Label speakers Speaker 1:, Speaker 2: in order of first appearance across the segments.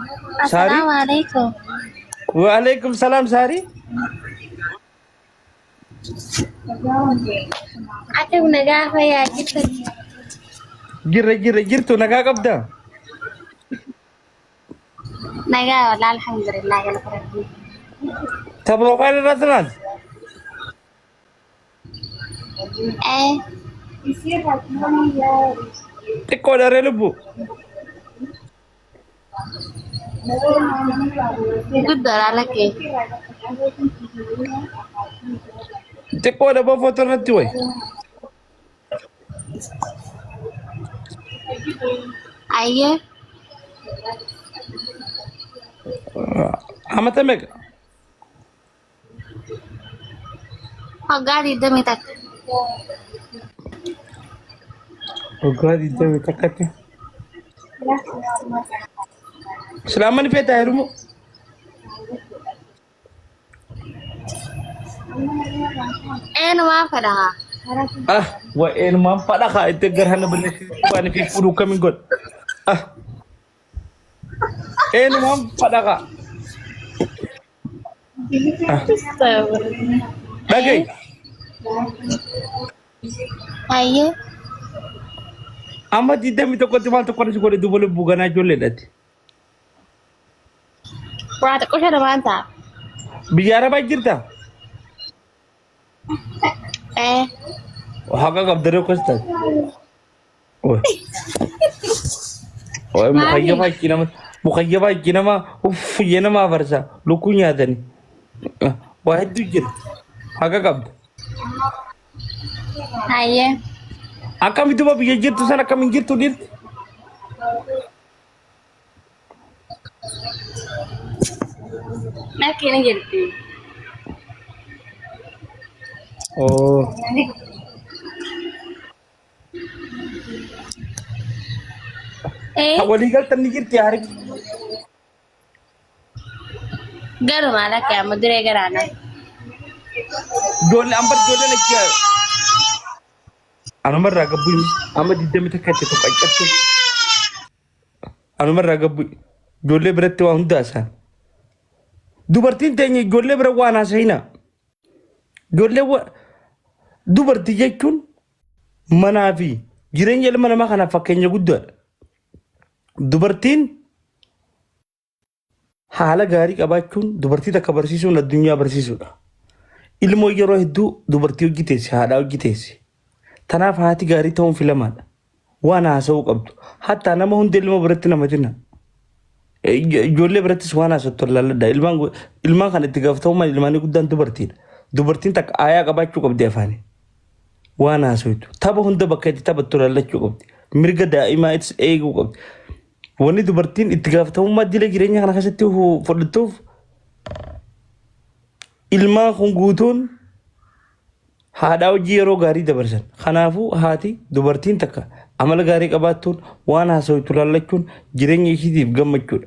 Speaker 1: Saari?
Speaker 2: Assalamu alaikum. Waalaikum
Speaker 1: salaam Saari. Akka
Speaker 2: na gaafa yaa jirtan. Jirra jirra
Speaker 1: jirtu nagaa qabda. Nagaa
Speaker 2: wala alhamdulillah
Speaker 1: gala fudhadhu. Ta profile irratti laal. Xiqqoo dharee lubbu.
Speaker 2: Guddoodha lakkee.
Speaker 1: Xiqqoo dhaboo footoo irratti wayi.
Speaker 2: Ayyee.
Speaker 1: Amata meeqa?
Speaker 2: Waggaa 21.
Speaker 1: Waggaa 20 takkatti. Islaamman feetaa heerumu.
Speaker 2: Eenumaa fedha haa. Ah,
Speaker 1: wa'een maan fadha kaa itti garhana balleessi waan fi fuudhu kamiin godha. Ah, Eenyumaan fadhaqa. Dhagahi.
Speaker 2: Ayyee.
Speaker 1: Amma digdamii tokkotti maal tokko si godhe duuba lubbuu ganaa ijoollee dhatti.
Speaker 2: Waa xiqqoo shana waan ta'a. Biyya
Speaker 1: arabaa jirta.
Speaker 2: Eh. Haqa
Speaker 1: qabdaree akkas taate.
Speaker 2: Waa'ee mukayyabaa itti nama
Speaker 1: mukayyabaa itti nama uffiyye nama afarsa lukkuu nyaatani. Waa hedduu jira. Haqa qabda.
Speaker 2: Hayyee. Akkami
Speaker 1: duba biyya jirtu san akkam hin jirtu dhirti?
Speaker 2: Lakkee ni jirti.
Speaker 1: Oo.
Speaker 2: Ee, Kan walii galtan ni
Speaker 1: jirti haariif.
Speaker 2: garuu maal akka amma duree garaa na. Ijoollee
Speaker 1: amma ijoolleen achi anumarraa gabbuu himi. Amma digdami takka itti tokko ajjattu. Anumarraa gabbuu ijoollee biratti waa hundaa isaa. Dubartiin teenya ijoollee bira waan haasa'ina. Ijoollee wa dubartii jechuun manaa fi jireenya ilma namaa kanaaf fakkeenya guddaadha. Dubartiin haala gaarii qabaachuun dubartii takka barsiisuun addunyaa barsiisuudha. Ilmoo yeroo hedduu dubartii hojii teessi, haadhaa hojii teessi. Tanaaf haati gaarii ta'uun filamaadha. Waan haasa'uu qabdu. Hattaa nama hunda ilma biratti namatina. Ijoollee birattis waan haasattu laalladha. Ilmaan go- ilmaan kan itti gaafatamummaan ilmaanii guddaan dubartiidha. Dubartiin takka aayaa qabaachuu qabdi afaanii. waan haasoytu tapha hunda bakka itti taphattu lallachuu qabdi mirga daa'imaa itti eeguu qabdi wanni dubartiin itti gaafatamummaa dila jireenya kana keessatti hu- fudhattuuf ilmaan kun guutuun haadhaa hojii yeroo gaarii dabarsan kanaafuu haati dubartiin takka amala gaarii qabaattuun waan haasoytu lallachuun jireenya ishiitiif gammachuudha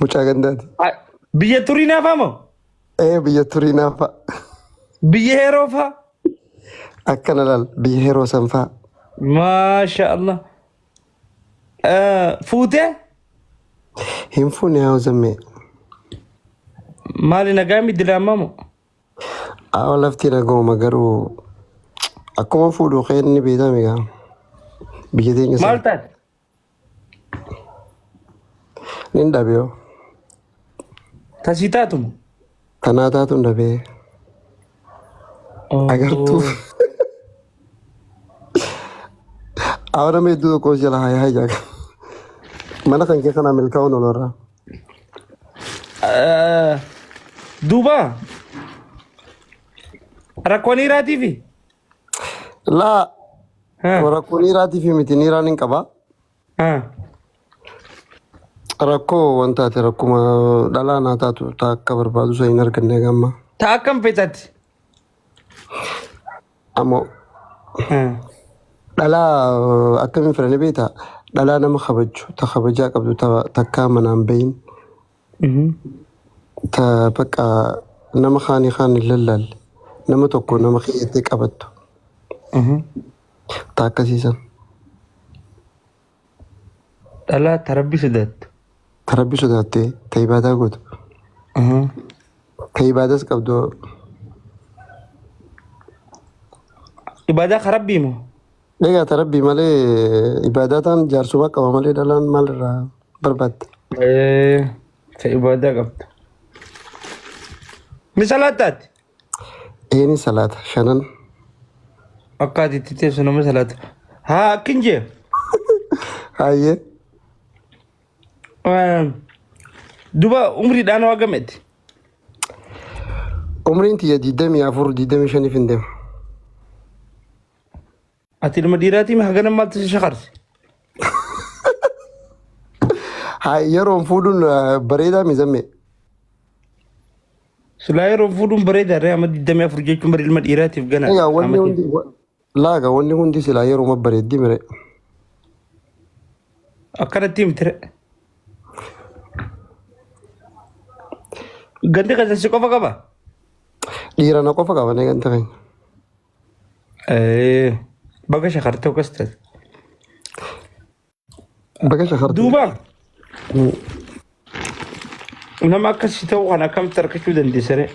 Speaker 3: Mucaa gandaati. Ah, Biyya turii
Speaker 1: naafaa moo? Ee biyya
Speaker 3: turii naafaa. Biyya
Speaker 1: heeroo faa?
Speaker 3: Akkana laal biyya heroo sanfaa. Maasha
Speaker 1: Allah. Eh, Fuutee?
Speaker 3: Hin fuune haa uzammee.
Speaker 1: Maali nagaa miti diraamaa moo?
Speaker 3: Awa lafti nagooma garuu akkuma fuudhu keenni beekame gaa. Biyya teenya Maal sana. taate? Nin dhabeeyo.
Speaker 1: Tasii taatuma. Anaa
Speaker 3: taatuun dhabee. Agartuu. Awara mee iddoo tokko jala haa yaa jaaga. Mana kan kee kanaa milkaa'uun olorraa.
Speaker 1: Duuba. Rakkoon dhiiraatiifi.
Speaker 3: Laa Ha, rakkoo niiraatii fi miti niiraan hin qaba. ha. Rakkoo waan taate rakkuma dhalaa naa taatu taa akka barbaadu isa hin arganne gamma. Ta akkam fixati. Ammoo Ha. dhalaa eh, akkamiin fedhanii beektaa? Dhalaa nama kabaju, ta kabajaa qabdu, ta takkaa manaan bahin, ta baqa nama kaani kaan hin lallaalle nama tokko nama keeyattee qabattu ta akkasiisan
Speaker 1: dhalaa ta rabbi sodaattu ta rabbi
Speaker 3: sodaattee ta ibaadaa gootu ta ibaadas qabdu
Speaker 1: ibaadaa ka rabbii moo Dhagaata rabbii
Speaker 3: malee ibaadaataan jaarsuma qaba malee dhalaan maalirraa barbaadda? Eh,
Speaker 1: ta ibadaa qabda. Ni salaataati.
Speaker 3: Eeni salaata shanan.
Speaker 1: Akkaati itti teessu nama salaata. Haa akkin jee.
Speaker 3: Hayyee Eh,
Speaker 1: Duba umriidhaan waa gameeti.
Speaker 3: umriin tiyya 24 25 hin deema.
Speaker 1: Ati ilma dhiiraatii mi hagana maaltu si shakarse?
Speaker 3: Haa yeroon fuudhuun eh, bareedaa mizammee.
Speaker 1: Silaa yeroo fuudhuun bareedaa ree amma 24 jechuun bari ilma dhiiraatiif Egaa ganaadha. wanni Amma hundi wa-
Speaker 3: laaga wanni hundi silaa yeruma bareeddi mire.
Speaker 1: akkanatti himti ree. Gandi keessan si qofa qaba.
Speaker 3: Dhiira na qofa qabane ganta keenya. Eh,
Speaker 1: Baga shakartee akkas taate.
Speaker 3: Baga shakartee. Duuba
Speaker 1: nama akkasii ta'uu kana akkamitti argachuu dandeessaree?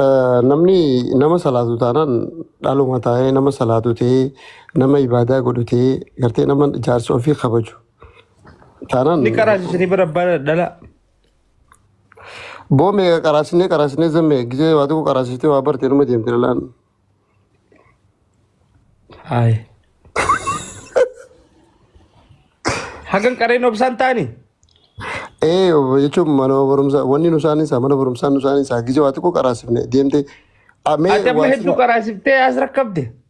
Speaker 3: Eh, Namni nama salaatu taanaan dhaluma taa'ee nama salaatu ta'ee nama ibaadaa godhu ta'ee gartee nama jaarsa ofii kabaju taanaan Ni qaraasisanii
Speaker 1: bara bara dhala.
Speaker 3: Boome qaraasinee qaraasinee zammee gisee waa tokko qaraasistee waa bartee numa deemte lalaan.
Speaker 1: Haay. Hagan qareen obsaan taani. Ee
Speaker 3: jechuun mana barumsaa wanni nu isaanii isaa mana barumsaa nu isaanii isaa gisee waa tokko qaraasifne deemte. Amee Ati amma
Speaker 1: waa hedduu sima- qaraasiftee as rakkabde.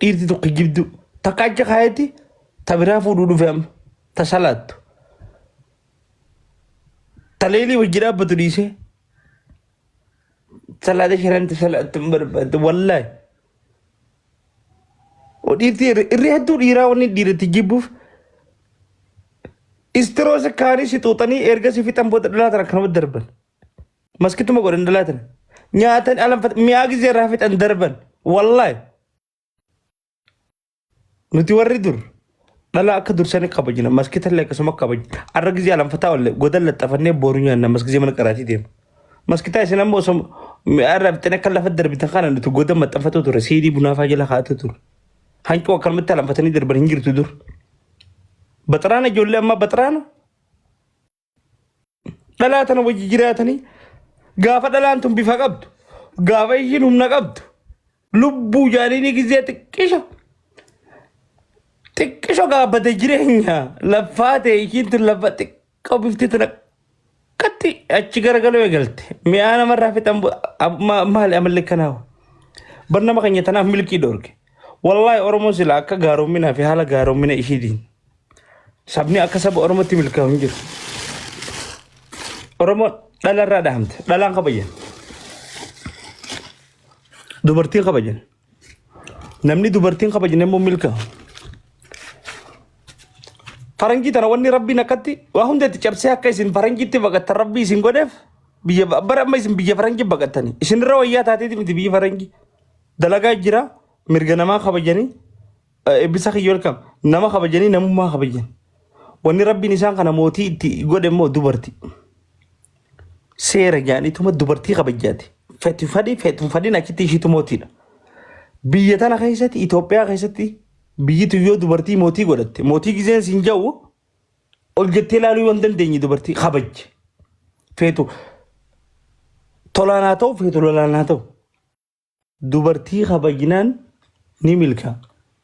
Speaker 1: Dhiirti tokko jibduu takka achi kaayeti ta biraa fuudhuu dhufe amma ta salaattu ta leelii wajji dhaabbatu dhiisee salaata shanan ta salaattu hin barbaadde wallaahi. Dhiirti irri hedduu dhiiraa wanni dhiiratti jibbuuf istiroosa kaanii si xuuxanii erga si fixan booda dhalaa tana kanuma darban. maskituma godhan dalaa tana nyaatan alanfata mi'aa gizee irraa fixan darban wallaahi nuti warri dur dhala akka dursanii kabajna maskita illee akkasuma kabajna arra gizee alanfataa olle godan laxxafannee booru nyaanna maskizee mana qaraatii deema maskitaa isin ammoo osoo mi'aa irraa fixan akka lafa darbitan kana nuti godan maxxanfatoo ture siidii bunaafaa jala kaa'atu ture hanqoo akkanumatti alanfatanii darban hin jirtu dur baxaraana ijoollee ammaa baxaraana dhalaa tana wajji jiraatanii gaafa dhalaan tun bifa qabdu gaafa ishiin humna qabdu lubbuu jaaliinii gizee xiqqisho xiqqisho gaabate jireenya laffaa ta'e ishiin tun lafa xiqqoo bifti tana akkatti achi garagaloo eegalte mi'aa namarraa fixan bu- ab- ma- maali amalli kanaawa bar nama keenya tanaaf milkii dhoorge wallaahi oromoo sila akka gaaroominaa fi haala gaaromina ishiitiin Sabni akka saba Oromootti milkaa'u hin jiru. Oromoon dhala irraa dhahamte. Dhalaan kabajan. Dubartiin kabajan. Namni dubartiin kabajne immoo milkaa'u. Faranjii tana wanni rabbiin akkatti waa hunda itti cabsee akka isin faranjiitti baqattan rabbii isin godheef biyya bara amma isin biyya faranjii baqattani. Isinirra wayyaa taateeti miti biyyi faranjii. Dalagaa jira mirga namaa kabajanii Eebbisa kiyya welcome. Nama kabajanii namummaa kabajan. Wanni rabbiin isaan kana mootii itti godhe immoo dubartii. Seera jaanituma dubartii kabajjaati. Fetu fadhi fetu hin fadhin achitti ishiitu mootiidha. Biyya tana keessatti Itoophiyaa keessatti biyyitu yoo dubartii mootii godhatte mootii gizeen siin ja'u ol jettee ilaaluu yoo hin dandeenye dubartii kabajje. Fetu tolaan haa ta'u fetu lolaan haa ta'u. Dubartii kabajnaan ni milkaa.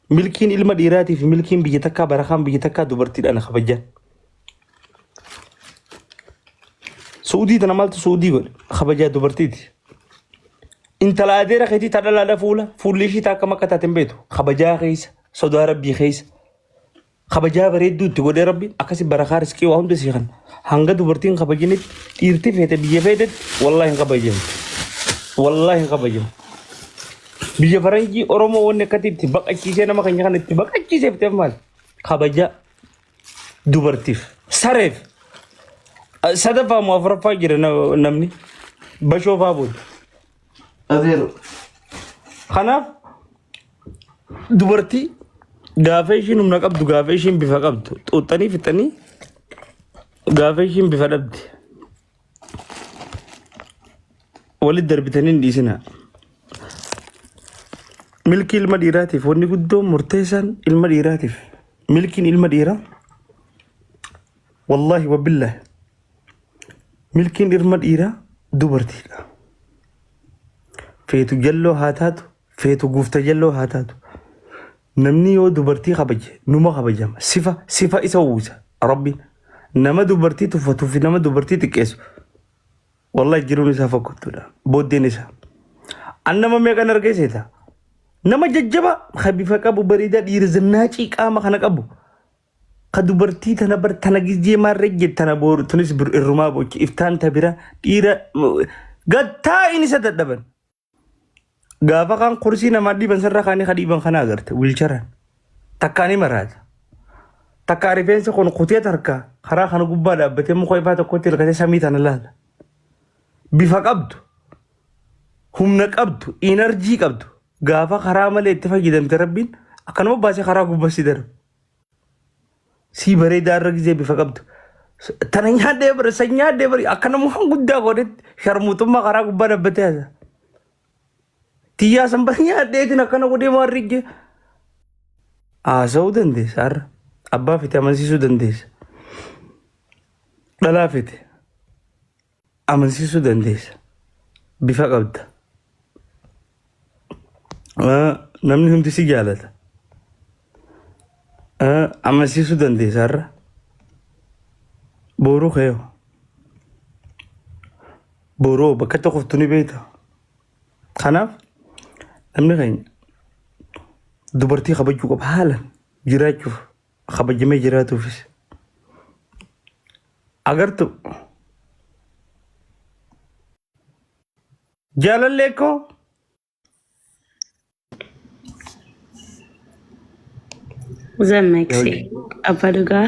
Speaker 1: Milkiin ilma dhiiraatii fi milkiin biyya takkaa barakaan biyya takkaa dubartiidhaan kabajaan. Suudii tana maaltu suudii godhe kabajaa dubartiiti. Intala adeera keetii ta dhalaadha fuula fuulli ishii ta akkam akka taate hin beektu kabajaa keessa sodaa rabbii keessa. kabajaa bareedduu itti godhee rabbi akkasi barakaa riskii waa hunda sii kan hanga dubartiin kabajinitti dhiirti feete biyya feetetti wallaahi hin kabajamu wallaahi hin kabajamu biyya faranjii oromoo wanni akkatti itti baqachiisee nama keenya kana itti baqachiisee fiteef maal kabajaa dubartiif sareef sadaffaa moo afuraffaa jira na- namni bashoofaa booda Adeero. Kanaaf dubartii gaafa ishiin humna qabdu gaafa ishiin bifa qabdu xuuxxanii fixanii gaafa ishiin bifa dhabde walitti darbitanii hin dhiisina. Milkii ilma dhiiraatiif wanni guddoon murteessaan ilma dhiiraatiif milkiin ilma dhiiraa wallaahi wabbillahi Milkiin dhirma dhiiraa dubartiidha. Feetu jalloo haa taatu, feetu guufta jalloo haa taatu. Namni yoo dubartii kabaje numa kabajama. Sifa sifa isa uwwisa rabbi. Nama dubartii tuffatuu fi nama dubartii xiqqeessu wallahi jiruun isaa fokkottuudha. Booddeen isaa. An nama meeqan argee seeta? Nama jajjaba kan bifa qabu bareedaa dhiira zannaacii qaama kana qabu. Ka dubartii tana bar tana gizee maarree jettana booru tunis bir irrumaa bochi iftaan ta bira dhiira gattaa in isa dadhaban. Gaafa kaan kursii namaa dhiiban sarara kaanii ka dhiiban kana agarte wiilcharaan. Takkaa ni maraata. Takkaa rifeensa kun kutee tarkaa karaa kana gubbaa dhaabbatee muka ifaa tokkotti hirkatee samii tana laala. Bifa qabdu, humna qabdu, inarjii qabdu gaafa karaa malee itti fayyadamte rabbiin akkanuma baasee karaa gubbaa si darba. Sii bareedaa irra gizee bifa qabdu. Tana nyaadhee bara san nyaadhee bara akka nama waan guddaa godhetti sharmuutummaa karaa gubbaa dhabbatee haasa. Tiyyaa san bara nyaadheetiin akkana godhee waan rigge haasa'uu dandeessa har'a. Abbaa fite amansiisuu dandeessa. Dhalaa fite. amansiisuu dandeessa. Bifa qabda. Ah, Namni hundi si jaalata. Ah, Amansiisuu dandeessa har'a. Booruu kee hoo? Booruu hoo bakka tokkotti ni beekta. Kanaaf namni keenya dubartii kabajuu qaba haalan jiraachuuf. kabajamee jiraatuufis agartu jaalallee koo
Speaker 2: Zammaksi abbaa dhugaa